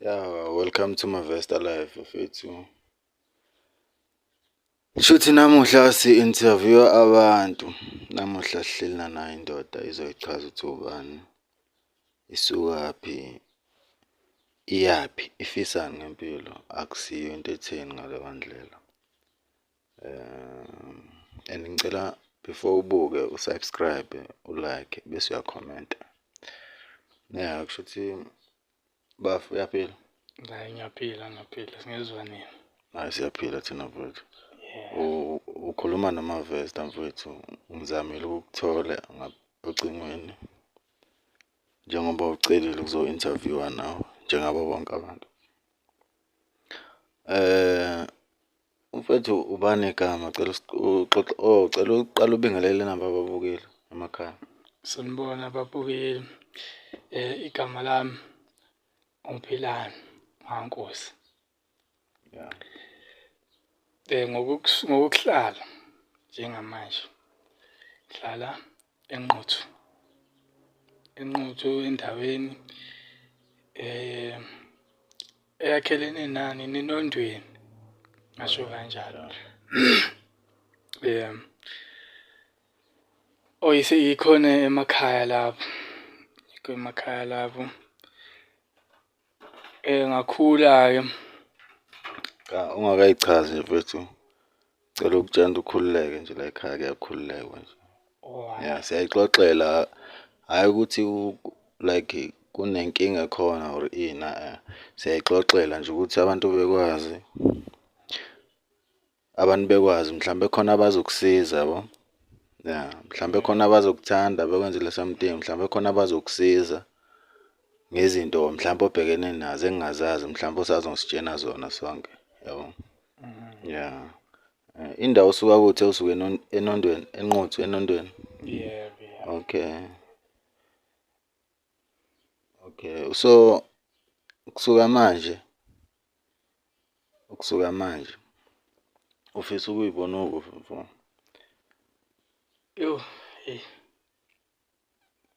Yeah, welcome to Mavesta Life mfethu. Shuthi namuhla si-interview abantu namuhla sihleli nanayo indoda izoyichaza ukuthi ubani isukaphi iyaphi ifisani ngempilo akusiyo into etheni ngaleyo ndlela um and ngicela before ubuke usubscribe ulike bese uyakhomenta ya kusho ukuthi bafu uyaphila hayi ngiyaphila ngiyaphila singezwa nini hayi siyaphila thina mfowethu ukhuluma nomavesta mfowethu ngizamile ukukuthola ocingweni njengoba ucelile ukuzo-interviewa nawe njengabo bonke abantu um Mfethu ubani igama cela uxoxa oh cela uqala ubingelele nabo ababukeli emakhaya. Sanibona babukeli. Eh igama lami uMphilani Mankosi. Yeah. Eh ngokuhlala njengamanje. Ngihlala enquthu enquthu endaweni eh eyakhelene nani ninondweni ngasho kanjalo um oyise ikhona emakhaya lapho ikho emakhaya lapho Eh ngakhula-ke. Cha ungakayichazi mfethu. Cela ukutshela ukuthi ukhululeke nje la ekhaya kuyakhululekwa nje. Oh. Ya siyayixoxela hayi ukuthi like kunenkinga khona or ini a-a siyayixoxela nje ukuthi abantu bekwazi. abantu bekwazi mhlawumbe khona abazokusiza yabo ya mhlawumbe khona abazokuthanda bekwenzele something mhlawumbe khona abazokusiza ngezinto mhlawumbe obhekene nazo engingazazi mhlawumbe osazositshena zona sonke yabo ya eh, indawo osuka kuthi usuke enon- enondweni enquthu enondweni yebo ya okay okay so kusuka manje ukusuka manje ufisa ukuyibona ukufa mfo yo hey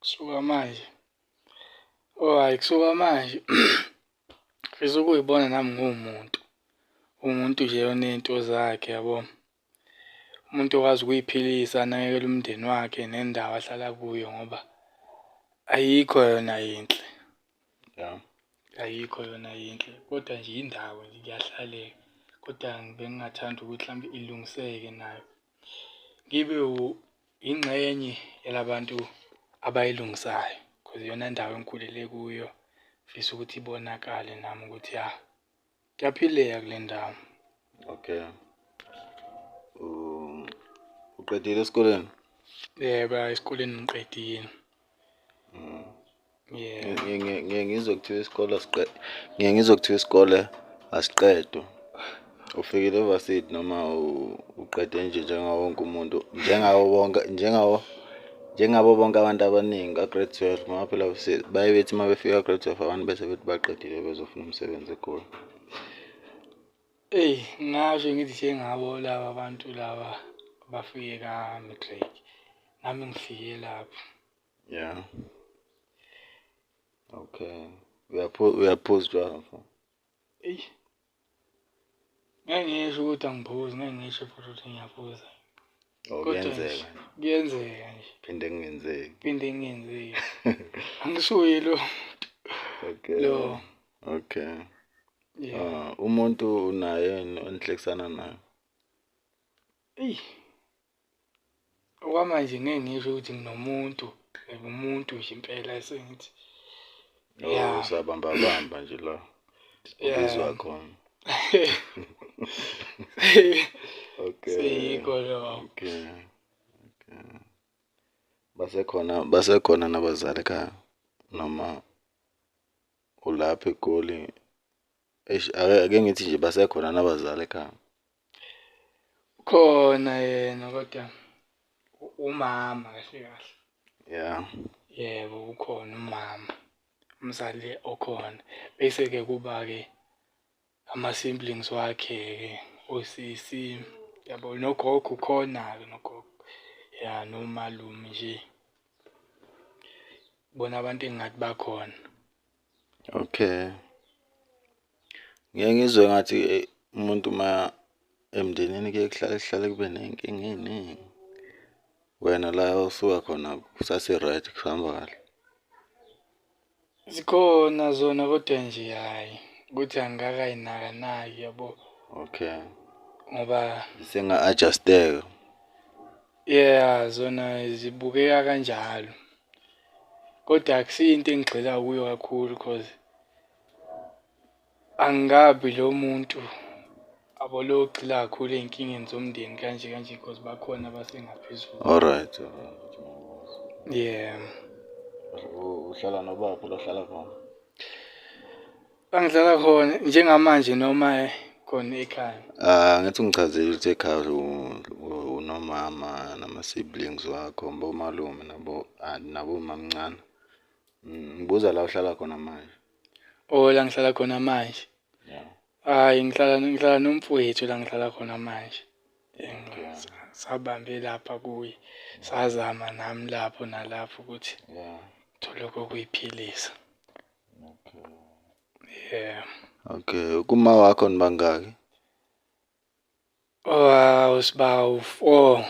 kusuka manje oh hayi kusuka manje ngifisa ukuyibona nami nguwumuntu umuntu nje onento zakhe yabo umuntu okwazi ukuy'philisa anakekele umndeni wakhe nendawo ahlala kuyo ngoba ayikho yona yinhle. Yeah. Ayikho yona yinhle kodwa nje indawo nje kuyahlaleka kodwa bengingathanda ukuthi mhlawumbe ilungiseke nayo. Ngibe yingxenye yalabantu abayilungisayo cause iyona ndawo engikhulele kuyo. Ngifisa ukuthi ibonakale nami ukuthi ya Kuyaphileka kule ndawo. Okay. Um, uqedile esikoleni? Yebo, esikoleni ngiqedile. Mm. Yeah. Ngeke ngizwe kuthiwa isikole asiqede. Ngeke ngizwe kuthiwa isikole asiqedwe. Ufikile evarsity noma uqede nje njengawo wonke umuntu njengawo wonke njengawo njengabo bonke abantu abaningi ka-grade twelve ngoba phela baye bethi uma befika ka-grade twelve abantu bese bethi baqedile bezofuna umsebenzi egoli eyi ngasho ngithi njengabo laba bantu laba bafike ka-matric nami ngifike lapho ya okay uyaphuza utshwala mfo Eish. Ngeke ngisho ukuthi angiphuzi, ngeke ngisho futhi ukuthi ngiyaphuza. Oh, Kodwa nje, kuyenzeka. Kuyenzeka nje. Phinde kungenzeki. Phinde kungenzeki. Angisuye lo. Okay. Lo. Okay. Yeah. Ah, umuntu unaye yini onihlekisana nayo? Eish. Okwamanje ngeke ngisho ukuthi nginomuntu like umuntu nje impela esengithi No, Yeah. usabamba bamba nje la. Yeah. Ubizwa khona. Okay. seyikho lokho Okay. Okay. Basekhona basekhona nabazali ekhaya noma ulapha eGoli. Eish ake ake ngithi nje basekhona nabazali ekhaya. khona yena kodwa umama kahle kahle yeah yebo ukhona umama umzali okhona bese ke kuba ke ama siblings wakhe ke osisi yabo nogogo khona ke nogogo ya nomalume nje bona abantu engathi bakhona Okay. Ngeke ngizwe ngathi eh, umuntu uma emndenini kuye kuhlale kuhlale kube nenkinga eningi. Wena la osuka khona kusase-right kuhamba kahle. Zikhona zona kodwa nje hhayi ukuthi angikakayinakanaki yabo Okay. ngoba Senga-adjusteka. Yeah, zona zibukeka kanjalo. Kodwa akusiyo into engigxila kuyo kakhulu cause angikabi lo muntu abologxila kakhulu ey'nkingeni zomndeni kanje kanje cause bakhona abasengaphezulu. Alright, alright. Yeah. U- Uhlala nobaphi lohlala khona? Bangihlala khona njengamanje noma khona ekhaya? Ah, ngathi ungichazile ukuthi ekhaya unomama nama-siblings wakho, bomalume nabo ah, nabomamncane. Mm, ngibuza la uhlala khona manje. Oh, la ngihlala khona manje. Yeah. Hayi ngihlala ngihlala nomfowethu la ngihlala khona manje. Yeah. Sabambe lapha kuye. Sazama nami lapho nalapho ukuthi yeah. thole kokuyiphilisa. yeah okay kuma wakho nibangaki wow sibawu 4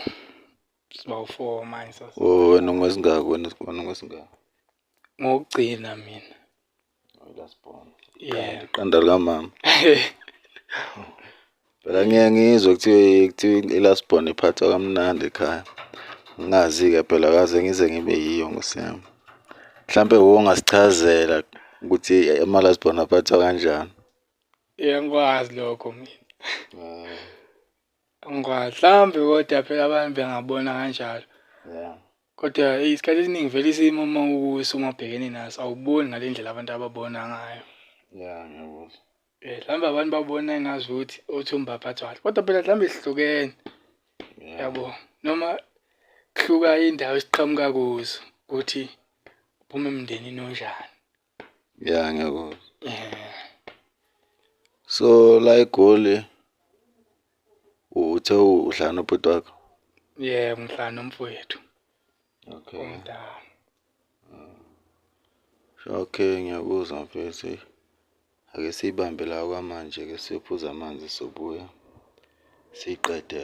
sibawu 4 manje sasa oh wena ngwesingaki wena wena ngwesingaki ngokugcina mina oh, last born yeah iqanda likamama phela ngiye ngizwe kuthiwe kuthiwa i-last born iphathwa kamnandi ekhaya ngingazi-ke phela kaze ngize ngibe yiyo ngosiyami mhlampe wo ungasichazela ukuthi ama-last born aphathwa kanjani yangikwazi lokho mina mm. angikwazi mhlawumbe kodwa phela abantu bengabona kanjalo yeah Kodwa eyi isikhathi esiningi vele isimo uma ukuso uma ubhekene naso awuboni ngale ndlela abantu ababona ngayo. Ya, ngiyakuzwa. Eh, mhlawumbe abantu babona engazi ukuthi othumba aphathwala kodwa phela mhlawumbe sihlukene yabo noma kuhluka indawo esiqhamuka kuzo ukuthi uphuma emndenini onjani ya ngiyakuzwa eh. so la egoli uthe uhlala nobhuti wakho yebo ngihlala nomfowethu okay. omdala mm. okay ngiyakuzwa mfethu ake siyibambe la kwamanje ke siyophuza amanzi sobuya siyiqede